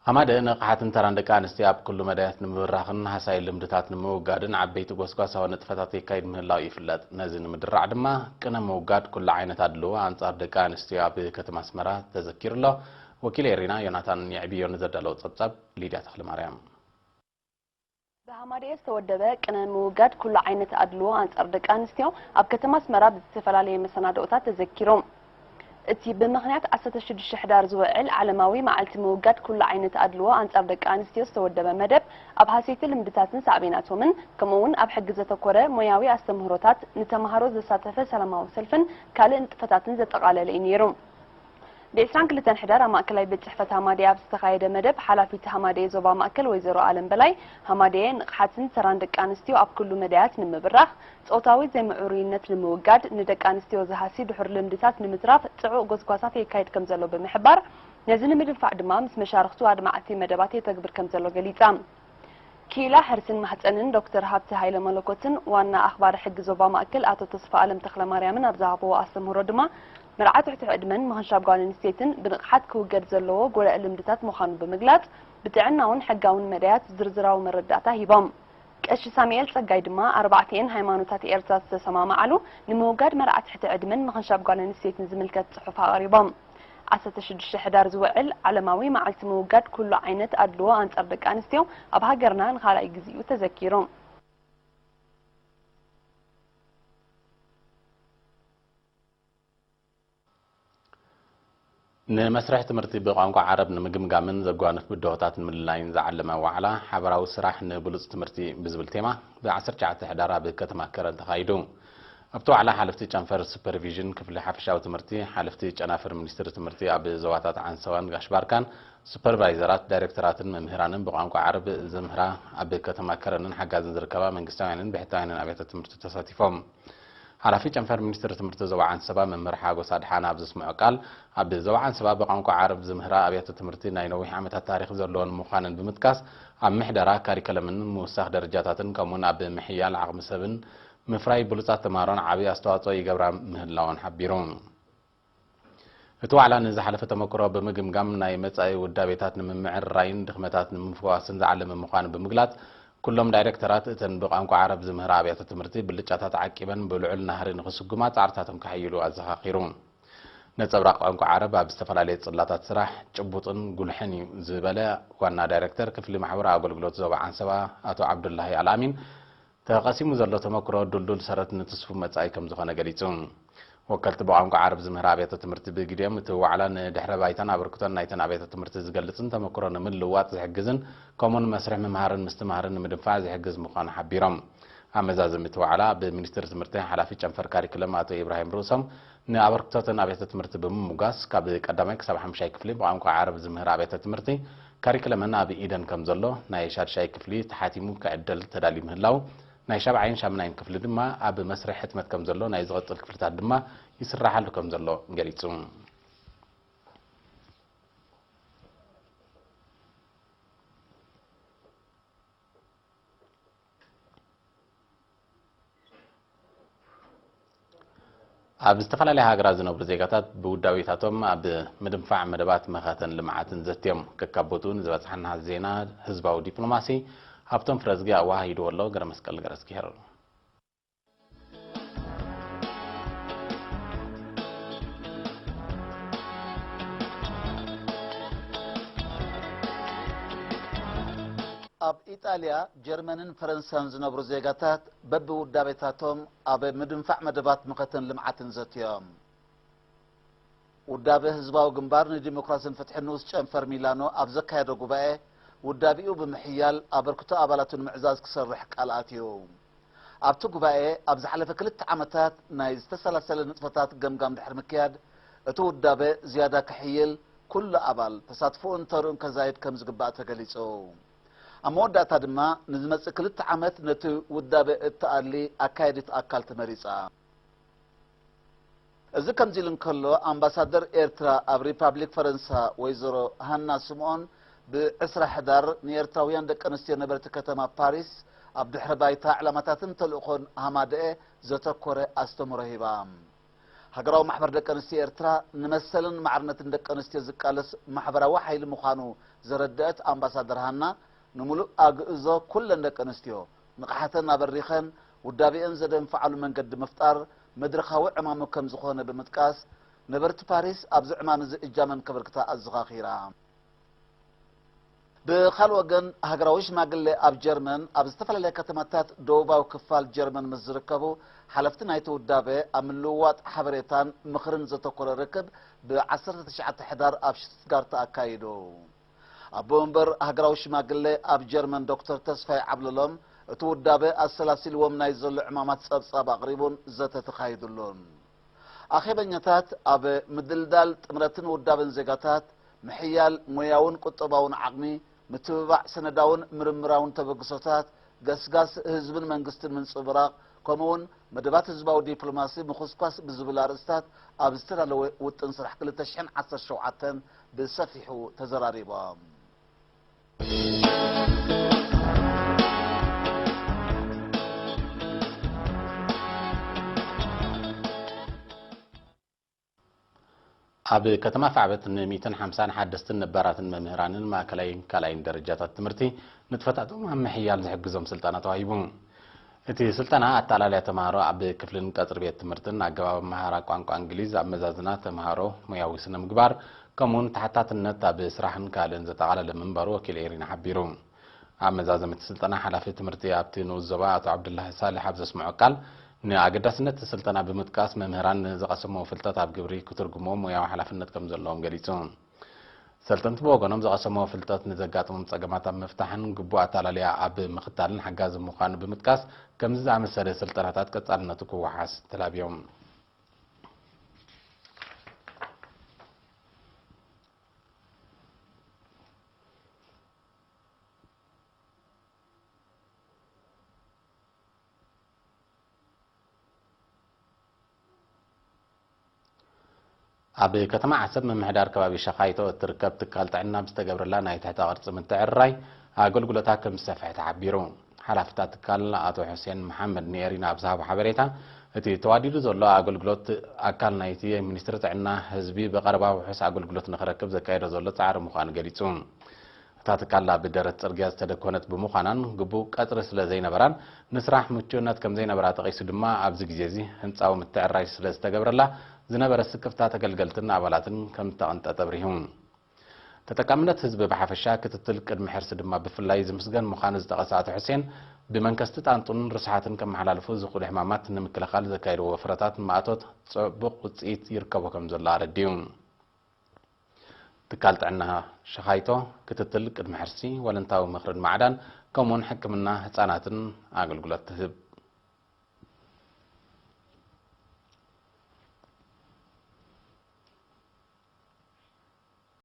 ሃማደ ንቕሓትን ተራን ደቂ ኣንስትዮ ኣብ ኩሉ መዳያት ንምብራኽን ሃሳይ ልምድታት ንምውጋድን ዓበይቲ ጎስጓሳዊ ንጥፈታት የካይድ ምህላው ይፍለጥ። ነዚ ንምድራዕ ድማ ቅነ ምውጋድ ኩሉ ዓይነት ኣድልዎ ኣንጻር ደቂ ኣንስትዮ ኣብ ከተማ ኣስመራ ተዘኪሩ ኣሎ። ወኪል ኤሪና ዮናታን የዕብዮ ንዘዳለዎ ጸብጻብ ሊድያ ተኽለማርያም ብሃማደኤ ዝተወደበ ቅነ ምውጋድ ኩሉ ዓይነት ኣድልዎ ኣንጻር ደቂ ኣንስትዮ ኣብ ከተማ ኣስመራ ብዝተፈላለየ መሰናድኦታት ተዘኪሩ። እቲ ብምኽንያት ዓሰርተ ሽዱሽተ ሕዳር ዝውዕል ዓለማዊ መዓልቲ ምውጋድ ኩሉ ዓይነት ኣድልዎ ኣንጻር ደቂ ኣንስትዮ ዝተወደበ መደብ፣ ኣብ ሃሰይቲ ልምድታትን ሳዕቤናቶምን ከምኡ'ውን ኣብ ሕጊ ዘተኮረ ሞያዊ ኣስተምህሮታት፣ ንተማሃሮ ዘሳተፈ ሰላማዊ ሰልፍን ካልእ ንጥፈታትን ዘጠቓለለ እዩ ነይሩ። ብዕስራን ክልተን ሕዳር ኣብ ማእከላይ ቤት ጽሕፈት ሃማደኤ ኣብ ዝተኻየደ መደብ፣ ሓላፊት ሃማደኤ ዞባ ማእከል ወይዘሮ ኣለም በላይ፣ ሃማደኤ ንቕሓትን ተራን ደቂ ኣንስትዮ ኣብ ኩሉ መዳያት ንምብራኽ፣ ጾታዊ ዘይምዕሩይነት ንምውጋድ፣ ንደቂ ኣንስትዮ ዝሃሲ ድሑር ልምድታት ንምትራፍ ጽዑቕ ጎስጓሳት የካይድ ከምዘሎ ብምሕባር፣ ነዚ ንምድንፋዕ ድማ ምስ መሻርኽቱ ኣድማዕቲ መደባት የተግብር ከምዘሎ ገሊጻ። ክኢላ ሕርስን ማህጸንን ዶክተር ሃብተ ሃይለመለኮትን ዋና ኣኽባሪ ሕጊ ዞባ ማእከል ኣቶ ተስፋኣለም ተኽለማርያምን ኣብ ዝሃብዎ ኣስተምህሮ ድማ መርዓ ትሕቲ ዕድመን ምኽንሻብ ጓል ኣንስተይትን ብንቕሓት ክውገድ ዘለዎ ጎዳኢ ልምድታት ምዃኑ ብምግላጽ ብጥዕናውን ሕጋውን መዳያት ዝርዝራዊ መረዳእታ ሂቦም። ቀሺ ሳሙኤል ጸጋይ ድማ ኣርባዕቲኤን ሃይማኖታት ኤርትራ ዝተሰማምዓሉ ንምውጋድ መርዓ ትሕቲ ዕድመን ምኽንሻብ ጓል ኣንስተይትን ዝምልከት ጽሑፍ ኣቕሪቦም። ዓሰርተ ሽዱሽተ ሕዳር ዝውዕል ዓለማዊ መዓልቲ ምውጋድ ኩሉ ዓይነት ኣድልዎ ኣንጻር ደቂ ኣንስትዮ ኣብ ሃገርና ንኻልኣይ ግዜ'ዩ ተዘኪሩ። ንመስርሕ ትምህርቲ ብቋንቋ ዓረብ ንምግምጋምን ዘጓንፍ ብድሆታት ንምልላይን ዝዓለመ ዋዕላ ሓበራዊ ስራሕ ንብሉጽ ትምህርቲ ብዝብል ቴማ ብ ዓሰርተ ትሽዓተ ሕዳር ኣብ ከተማ ከረን ተኻይዱ። ኣብቲ ዋዕላ ሓለፍቲ ጨንፈር ሱፐርቪዥን ክፍሊ ሓፈሻዊ ትምህርቲ፣ ሓለፍቲ ጨናፍር ሚኒስትሪ ትምህርቲ ኣብ ዞባታት ዓንሰባን ጋሽ ባርካን፣ ሱፐርቫይዘራት፣ ዳይሬክተራትን መምህራንን ብቋንቋ ዓረብ ዘምህራ ኣብ ከተማ ከረንን ሓጋዝን ዝርከባ መንግስታውያንን ብሕታውያንን ኣብያተ ትምህርቲ ተሳቲፎም። ሓላፊ ጨንፈር ሚኒስትሪ ትምህርቲ ዞባ ዓንሰባ መምህር ሓጎስ ኣድሓነ ኣብ ዘስምዖ ቃል፣ ኣብ ዞባ ዓንሰባ ብቋንቋ ዓረብ ዝምህራ ኣብያተ ትምህርቲ ናይ ነዊሕ ዓመታት ታሪኽ ዘለወን ምዃነን ብምጥቃስ፣ ኣብ ምሕደራ፣ ካሪከለምን ምውሳኽ ደረጃታትን ከምኡ'ውን ኣብ ምሕያል ዓቕሚ ሰብን ምፍራይ ብሉፃት ተምሃሮን ዓብዪ ኣስተዋፅኦ ይገብራ ምህላወን ሓቢሩ። እቲ ዋዕላ ንዝሓለፈ ተመክሮ ብምግምጋም ናይ መፃኢ ውዳቤታት ንምምዕርራይን ድኽመታት ንምፍዋስን ዝዓለመ ምዃኑ ብምግላፅ ኩሎም ዳይሬክተራት እተን ብቋንቋ ዓረብ ዝምህራ ኣብያተ ትምህርቲ ብልጫታት ዓቂበን ብልዑል ናህሪ ንኽስጉማ ፃዕርታቶም ከሐይሉ ኣዘኻኺሩ። ነፀብራቕ ቋንቋ ዓረብ ኣብ ዝተፈላለየ ፅላታት ስራሕ ጭቡጥን ጉልሕን እዩ ዝበለ ዋና ዳይሬክተር ክፍሊ ማሕበራዊ ኣገልግሎት ዞባ ዓንሰባ ኣቶ ዓብዱላሂ ኣልኣሚን ተቐሲሙ ዘሎ ተመክሮ ድልዱል ሰረት ንትስፉው መጻኢ ከም ዝኾነ ገሊጹ። ወከልቲ ብቋንቋ ዓረብ ዝምህራ ኣብያተ ትምህርቲ ብግዲኦም እቲ ዋዕላ ንድሕረ ባይታን ኣበርክቶን ናይተን ኣብያተ ትምህርቲ ዝገልጽን ተመክሮ ንምልውዋጥ ዝሕግዝን ከምኡውን መስርሕ ምምሃርን ምስትምሃርን ንምድንፋዕ ዝሕግዝ ምዃኑ ሓቢሮም። ኣብ መዛዘሚ እቲ ዋዕላ ብሚኒስትሪ ትምህርቲ ሓላፊ ጨንፈር ካሪክለም ኣቶ ኢብራሂም ርእሶም ንኣበርክቶ'ተን ኣብያተ-ትምህርቲ ብምሙጋስ፣ ካብ ቀዳማይ ክሳብ ሓምሻይ ክፍሊ ብቋንቋ ዓረብ ዝምህራ ኣብያተ-ትምህርቲ፣ ካሪክለመን ኣብ ኢደን ከምዘሎ፣ ናይ ሻድሻይ ክፍሊ ተሓቲሙ ክዕደል ተዳልዩ ምህላዉ፣ ናይ ሻብዓይን ሻምናይን ክፍሊ ድማ ኣብ መስርሕ ሕትመት ከምዘሎ፣ ናይ ዝቕጽል ክፍልታት ድማ ይስራሓሉ ከምዘሎ ገሊጹ። ኣብ ዝተፈላለያ ሃገራት ዝነብሩ ዜጋታት ብውዳቤታቶም ኣብ ምድንፋዕ መደባት መኸተን ልምዓትን ዘትዮም ከካብ ቦትኡ ንዝበፅሓና ዜና ህዝባዊ ዲፕሎማሲ ሃብቶም ፍረዝጊ ኣወሃሂድዎ ኣሎ ገረመስቀል ገረዝጊሄር ኣብ ኢጣልያ፣ ጀርመንን ፈረንሳን ዝነብሩ ዜጋታት በብውዳቤታቶም ኣብ ምድንፋዕ መደባት መኸተን ልምዓትን ዘትዮም። ውዳበ ህዝባዊ ግንባር ንዲሞክራሲን ፍትሕን ንኡስ ጨንፈር ሚላኖ ኣብ ዘካየዶ ጉባኤ ውዳቤኡ ብምሕያል ኣበርክቶ ኣባላቱ ንምዕዛዝ ክሰርሕ ቃል ኣትዩ። ኣብቲ ጉባኤ ኣብ ዝሓለፈ ክልተ ዓመታት ናይ ዝተሰላሰለ ንጥፈታት ገምጋም ድሕሪ ምክያድ እቲ ውዳበ ዝያዳ ክሕይል ኩሉ ኣባል ተሳትፎኡን ተርኡን ከዛይድ ከምዝግባእ ተገሊፁ። ኣብ መወዳእታ ድማ ንዝመፅእ ክልተ ዓመት ነቲ ውዳበ እትኣሊ ኣካያዲት ኣካል ተመሪፃ። እዚ ከምዚሉ እንከሎ፣ ኣምባሳደር ኤርትራ ኣብ ሪፓብሊክ ፈረንሳ ወይዘሮ ሃና ስምኦን ብ ዕስራ ሕዳር ንኤርትራውያን ደቂ ኣንስትዮ ነበርቲ ከተማ ፓሪስ ኣብ ድሕረ ባይታ፣ ዕላማታትን ተልእኾን ሃማደኤ ዘተኮረ ኣስተምህሮ ሂባ። ሃገራዊ ማሕበር ደቂ ኣንስትዮ ኤርትራ ንመሰልን ማዕርነትን ደቂ ኣንስትዮ ዝቃለስ ማሕበራዊ ሓይሊ ምዃኑ ዘረደኣት ኣምባሳደር ሃና፣ ንምሉእ ኣግእዞ ኩለን ደቂ ኣንስትዮ ንቕሓተን ኣበሪኸን ውዳቤኦም ዘደንፍዓሉ መንገዲ ምፍጣር መድረኻዊ ዕማሙ ከም ዝኾነ ብምጥቃስ፣ ነበርቲ ፓሪስ ኣብዚ ዕማም እዚ እጃመን ከበርክታ ኣዘኻኺራ። ብኻልእ ወገን ሃገራዊ ሽማግሌ ኣብ ጀርመን ኣብ ዝተፈላለያ ከተማታት ደቡባዊ ክፋል ጀርመን ምስ ዝርከቡ ሓለፍቲ ናይቲ ውዳበ ኣብ ምልውዋጥ ሓበሬታን ምኽርን ዘተኮረ ርክብ ብ ዓሰርተ ትሽዓተ ሕዳር ኣብ ሽቱትጋርት ኣካይዱ። ኣቦ መንበር ሃገራዊ ሽማግለ ኣብ ጀርመን ዶክተር ተስፋይ ዓብለሎም፣ እቲ ውዳበ ኣሰላሲልዎም ናይ ዘሎ ዕማማት ጸብጻብ ኣቕሪቡን ዘተ ተኻይዱሉን። ኣኼበኛታት ኣብ ምድልዳል ጥምረትን ውዳበን ዜጋታት፣ ምሕያል ሞያውን ቁጠባውን ዓቕሚ፣ ምትብባዕ ሰነዳውን ምርምራውን ተበግሶታት፣ ገስጋስ ህዝብን መንግስትን ምንጽብራቕ ከምኡ'ውን መደባት ህዝባዊ ዲፕሎማሲ ምኹስኳስ ብዝብል ኣርእስታት ኣብ ዝተዳለወ ውጥን ስራሕ ክልተ ሽሕን ዓሰርተ ሸውዓተን ብሰፊሑ ተዘራሪቦም። ኣብ ከተማ ፋዕበት ን ሚእትን ሓምሳን ሓደስትን ነባራትን መምህራንን ማእከላይን ካልኣይን ደረጃታት ትምህርቲ ንጥፈታቶም ኣብ ምሕያል ዝሕግዞም ስልጠና ተዋሂቡ። እቲ ስልጠና ኣተኣላልያ ተምሃሮ ኣብ ክፍልን ቀጽሪ ቤት ትምህርትን፣ ኣገባብ ኣመሃህራ ቋንቋ እንግሊዝ፣ ኣመዛዝና ተምሃሮ፣ ሞያዊ ስነ-ምግባር፣ ከምኡ'ውን ተሓታትነት ኣብ ስራሕን ካልእን ዘጠቓለለ ምንባሩ ወኪል ኤሪና ሓቢሩ። ኣብ መዛዘሚ እቲ ስልጠና ሓላፊ ትምህርቲ ኣብቲ ንኡስ ዞባ ኣቶ ዓብዱላሂ ሳልሕ ኣብ ዘስምዖ ቃል፣ ንኣገዳስነት እቲ ስልጠና ብምጥቃስ፣ መምህራን ንዝቐሰምዎ ፍልጠት ኣብ ግብሪ ክትርጉምዎ ሞያዊ ሓላፍነት ከም ዘለዎም ገሊጹ። ሰልጠንቲ ብወገኖም፣ ዝቐሰምዎ ፍልጠት ንዘጋጥሞም ጸገማት ኣብ ምፍታሕን ግቡእ ኣታላልያ ኣብ ምኽታልን ሓጋዚ ምዃኑ ብምጥቃስ፣ ከምዚ ዝኣመሰለ ስልጠናታት ቀጻልነቱ ክወሓስ ተላብዮም። ኣብ ከተማ ዓሰብ ምምሕዳር ከባቢ ሸኻይቶ እትርከብ ትካል ጥዕና ብዝተገብረላ ናይ ትሕተ ቅርፂ ምትዕርራይ ኣገልግሎታ ከምዝሰፍሐ ተሓቢሩ። ሓላፊ እታ ትካል ኣቶ ሑሴን መሓመድ ንኤሪና ኣብ ዝሃቦ ሓበሬታ፣ እቲ ተዋዲዱ ዘሎ ኣገልግሎት ኣካል ናይቲ ሚኒስትሪ ጥዕና ህዝቢ ብቐረባ ውሑስ ኣገልግሎት ንኽረክብ ዘካይዶ ዘሎ ጻዕሪ ምዃኑ ገሊጹ። እታ ትካል ኣብ ደረት ጽርግያ ዝተደኮነት ብምዃናን ግቡእ ቀጽሪ ስለ ዘይነበራን ንስራሕ ምቹእነት ከም ዘይነበራ ጠቒሱ ድማ ኣብዚ ግዜ እዚ ህንጻዊ ምትዕርራይ ስለ ዝተገብረላ ዝነበረ ስክፍታ ተገልገልትን ኣባላትን ከም እተቐንጠጠ ኣብሪሁ። ተጠቃምነት ህዝቢ ብሓፈሻ፣ ክትትል ቅድሚ ሕርሲ ድማ ብፍላይ ዝምስገን ምዃኑ ዝጠቐሰ ኣቶ ሕሴን፣ ብመንከስቲ ጣንጡን ርስሓትን ከመሓላልፉ ዝኽእሉ ሕማማት ንምክልኻል ዘካየድዎ ወፍረታት ማእቶት ፅዕቡቕ ውፅኢት ይርከቦ ከምዘሎ ኣረዲኡ። ትካል ጥዕና ሸኻይቶ፣ ክትትል ቅድሚ ሕርሲ፣ ወለንታዊ ምኽርን ማዕዳን ከምኡ እውን ሕክምና ህፃናትን ኣገልግሎት ትህብ።